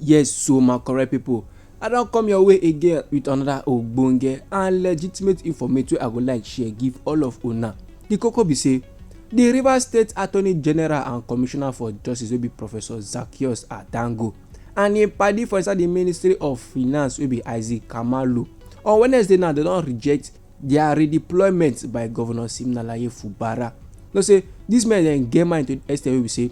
Yes so my correct people, I don come your way again with another ogbonge and legitimate informate wey I go like share give all of una. The koko be say, the Rivers State Attorney General and Commissioner for Justice wey be Professor Zaccheaus Adango and im padi for inside the Ministry of Finance wey be Isaac Kamalu on Wednesday now dem don reject Dia redeployment by Govnor Siminalayi Fubara know say dis men dem get mind to di extent wey be say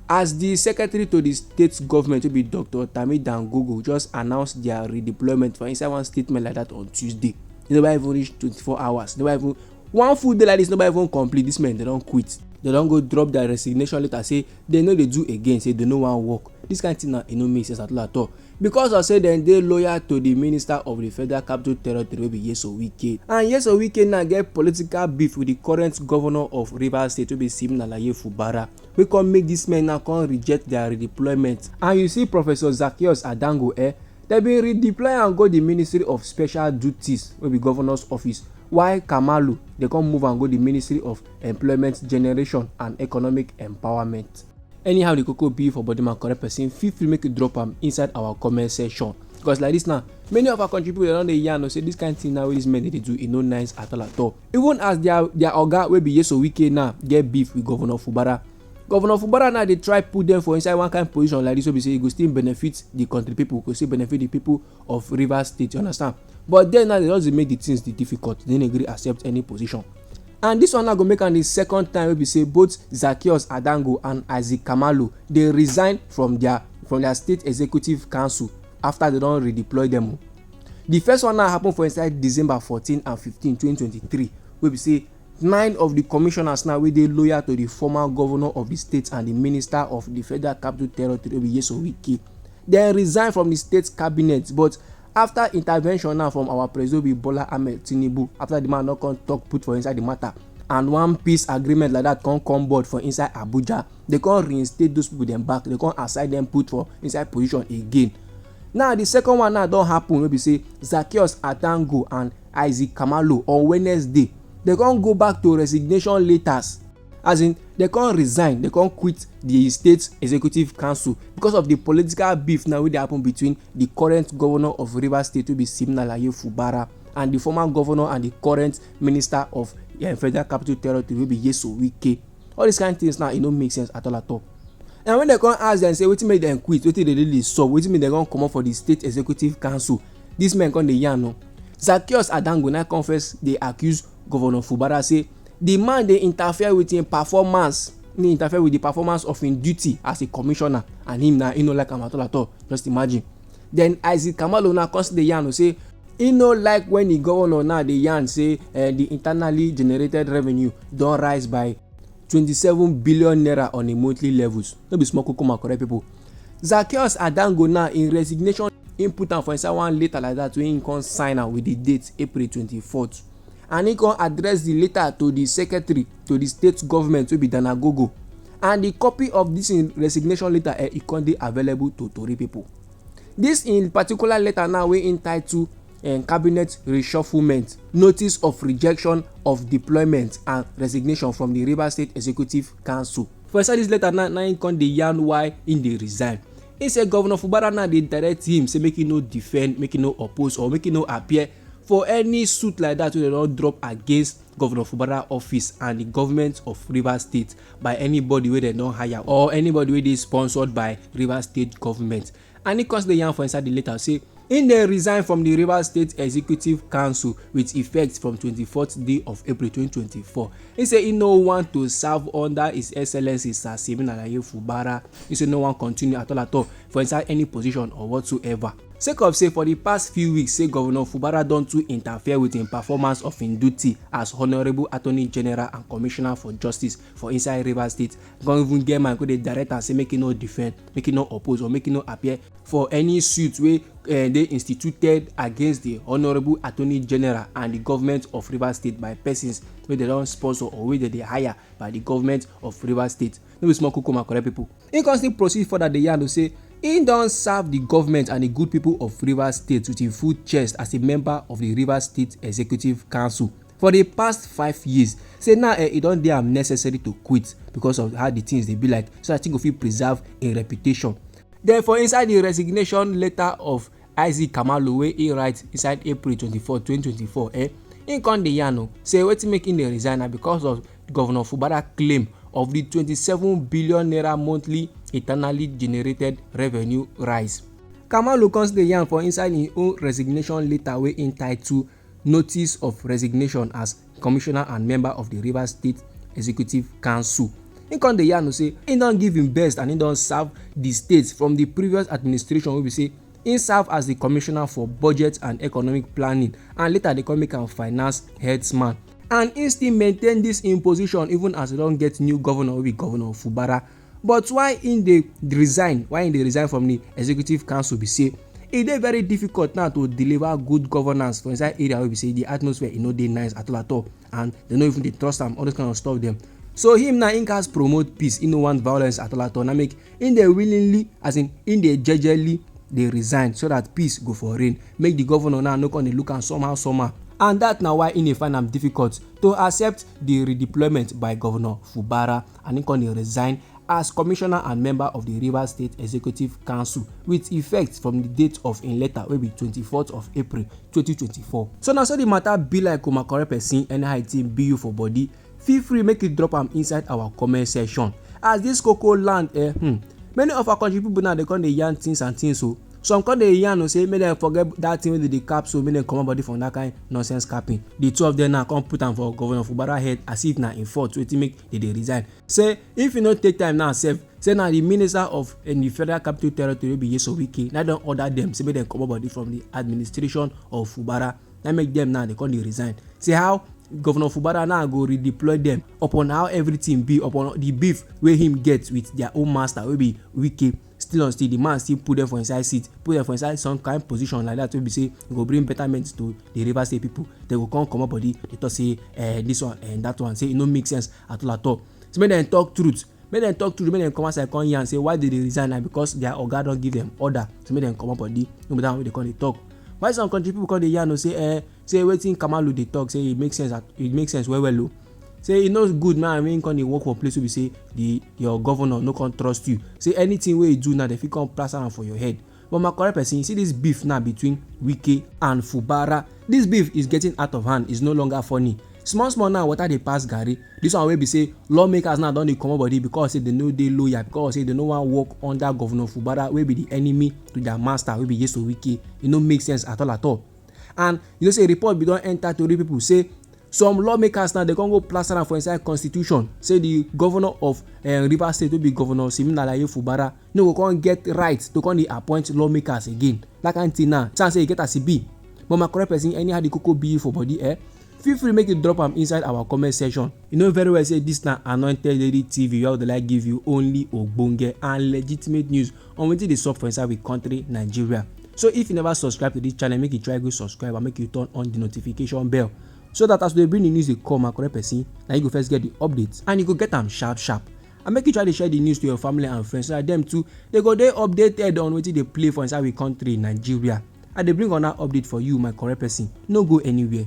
as di secretary to di state government wey be Doctor Tami Dangogo just announce dia redeployment for inside one statement like dat on Tuesday, e never even reach twenty four hours, never even one full day like dis never even complete, dis men dem don quit. Dem don go drop dia resignation letter say dem no dey do again, say dem no wan work. Dis kain tin now e no make sense at all at all. because of say dem dey loyal to di minister of di federal capital territory wey be Nyesom Wike and Nyesom Wike now get political beef with di current governor of Rivers state wey be Siminalayi Fubara wey come make dis men now come reject their redeployment and you see Professor Zaccheaus Adango eh dem bin redeploy am go di ministry of special duties wey be governors office while Kamalu dey come move am go di ministry of employment generation and economic empowerment. anyhow the koko be for body man correct person feel free make you drop am inside our comment section because like this now many of our country people don dey yarn say this kind thing now wey this men dey do e no nice at all at all even as their their oga wey be yeso wike now get beef with governor fubara governor fubara now dey try put them for inside one kind position like this wey be say e go still benefit the country people go still benefit the people of Rivers State, you understand? But then now they just make the things the difficult. They didn't agree accept any position. And this one now go make am the second time wey be say both Zacchaeus Adango and Isaac Kamalu dey resign from their from their state executive council after they don redeploy them o. The first one now happen for inside December 14 and 15, 2023 wey be say Nine of di commissioners now wey dey loyal to di former govnor of di state and di minister of di Federal Capital Territory wey be Nyesom Wike, dem resign from di state cabinet but afta intervention now from our president wey be Bola Ahmed Tinubu afta di man don come tok put for inside di mata and one peace agreement like dat come come board for inside Abuja, dem come reinstate those pipo dem back, dem come assign dem put for inside position again. Now the second one now don happen wey be say Zaccheaus Adango and Isaac Khumalo on Wednesday dem come go back to resignation letters as in dem come resign dem come quit the state executive council because of the political beef now wey dey happen between the current governor of Rivers State wey be Siminalayi Fubara and the former governor and the current minister of eh, Federal Capital Territory wey be Nyesom Wike. all these kind things now e no make sense at all at all and when dem come ask dem say wetin make dem quit wetin dey really sup wetin make dem come comot for the state executive council this men come dey yarn o Zaccheaus Adango na come first dey accuse governor Fubara say the man dey interfere with him performance he interfere with the performance of him duty as a commissioner and him na he no like am at all at all just imagine Then Isaac Kamalo now come still dey yarn say e no like when the governor now dey yarn say uh, the internally generated revenue don rise by 27 billion naira on a monthly levels no be small kukuma correct people zacchaeus adango now in resignation im put am for inside one letter like that wey im come sign am with the date april 24th and he come address the letter to the secretary to the state government wey be danagogo and the copy of this im resignation letter eh, e come dey available to tori people. This in particular letter now wey im title um, cabinet reshufflement notice of rejection of deployment and resignation from the rivers state executive council. for inside this letter now na im come dey yarn why im dey resign He say governor fubara now dey direct him say make he no defend make he no oppose or make he no appear for any suit like that wey dem don drop against governor fubara office and the government of rivers state by anybody wey dem don hire or anybody wey dey sponsored by rivers state government and e come still dey yarn for inside the letter say im dey resign from the rivers state executive council with effect from 24th day of april 2024 He say he no want to serve under his excellency sir simeon alaye fubara He say no wan continue at all at all for inside any position or whatsoever sake of say for di past few weeks say govnor fubara don too interfere wit im performance of im duty as honourable attorney general and commissioner for justice for inside rivers state con even get mind go dey direct am say make e no defend make e no oppose or make e no appear for any suit wey eh, dey instituted against di honourable attorney general and di government of rivers state by persons wey dem don sponsor or wey dem dey hire by di government of rivers state no be small kukuma correct people. He come still proceed further dey yarn say he don serve the government and the good people of Rivers State with him full chest as a member of the Rivers State Executive Council for the past five years say now eh, e don dey am necessary to quit because of how the things dey be like so that he go fit preserve im reputation. Then for inside the resignation letter of Isaac Kamalu wey he write inside April twenty four, twenty twenty four, eh, he come dey yarn o say wetin make him dey resign na because of Governor Fubara claim of the twenty seven billion naira monthly internally generated revenue rise. Kamalu come still dey yarn for inside him own resignation letter wey him title Notice of resignation as commissioner and member of di Rivers State Executive Council. Im come dey yarn say im don give im best and im don serve di state from di previous administration wey be say im serve as di commissioner for budget and economic planning and later dey come make am finance headsman and im still maintain dis im position even as e don get new governor wey be governor Fubara But why im dey resign why im dey resign from di executive council be say e dey very difficult now to deliver good governance for inside area wey be say di atmosphere e no dey nice at all at all and dem no even dey trust am all those kind of stuff dem. So him now im gats promote peace im no want violence at all at all na make im dey willingly as in im dey jejely dey resign so that peace go for reign make di governor now no come dey look am somehow somehow and that na why im dey find am difficult to accept di redeployment by governor Fubara. and im come resign as commissioner and member of di Rivers State Executive Council with effect from di date of im letter wey be twenty four of April twenty twenty four. So na so di matter be like o my correct person anyhow e thing be you for body feel free make you drop am inside our comment section as this koko land eh hmm, many of our country people now dey come dey yarn things and things o. Oh. some come dey yarn o say make dem forget that thing wey dey dey cap so make dem comot body from that kind nonsense capping the two of them now come put am for governor fubara head as if na im fault wetin make e dey resign say if e no take time now sef say na di minister of eh, di federal capital territory wey be yeso wike na don order dem say make dem comot body from di administration of fubara na make dem now dey come dey resign see how governor fubara now go redeploy dem upon how everything be upon di beef wey him get with their own master wey be wike Still on still, di man still put dem for inside seat, put dem for inside some kain position like dat wey be sey e go bring betterment to di Rivers State pipu. Dem go come comot body dey talk sey um dis one um dat one, sey e no make sense at all at all. Sey make dem talk truth, make dem talk truth, make dem come outside come yarn sey why dem dey resign na because dia oga don give dem order sey make dem comot body, no be dat one wey dem come dey talk. Why some country pipu come dey yarn o sey um say wetin kamalu dey talk say e make sense e make sense well well o say e no good make i mean come dey work for place wey be say the your governor no come trust you say anything wey you do now dem fit come plaster am for your head but my correct person you see this beef now between wike and fubara this beef is getting out of hand is no longer funny small small now water dey pass garri this one wey be say lawmakers now don dey comot body because say they no dey loyal because say they no wan work under governor fubara wey be the enemy to their master wey be yeso wike e no make sense at all at all and you know say report bin don enter tori people say some lawmakers now dey come go plaster am for inside constitution say the governor of eh, rivers state wey be governor siminalayi fubara no go come get right to come dey appoint lawmakers again that kind thing now chance say e get as e be but my correct person anyhow the koko be for body eh feel free make you drop am inside our comment section you know very well say this na anointed lady tv wey i dey like give you only ogbonge and legitimate news on wetin dey sup for inside we country Nigeria. So if you never subscribe to this channel, make you try go subscribe and make you turn on the notification bell so that as we bring the news dey come and correct person, na you go first get the updates and you go get am sharp sharp. And make you try to share the news to your family and friends so that them too they go dey updated on wetin dey play for inside we country Nigeria. I dey bring on that update for you, my correct person. No go anywhere.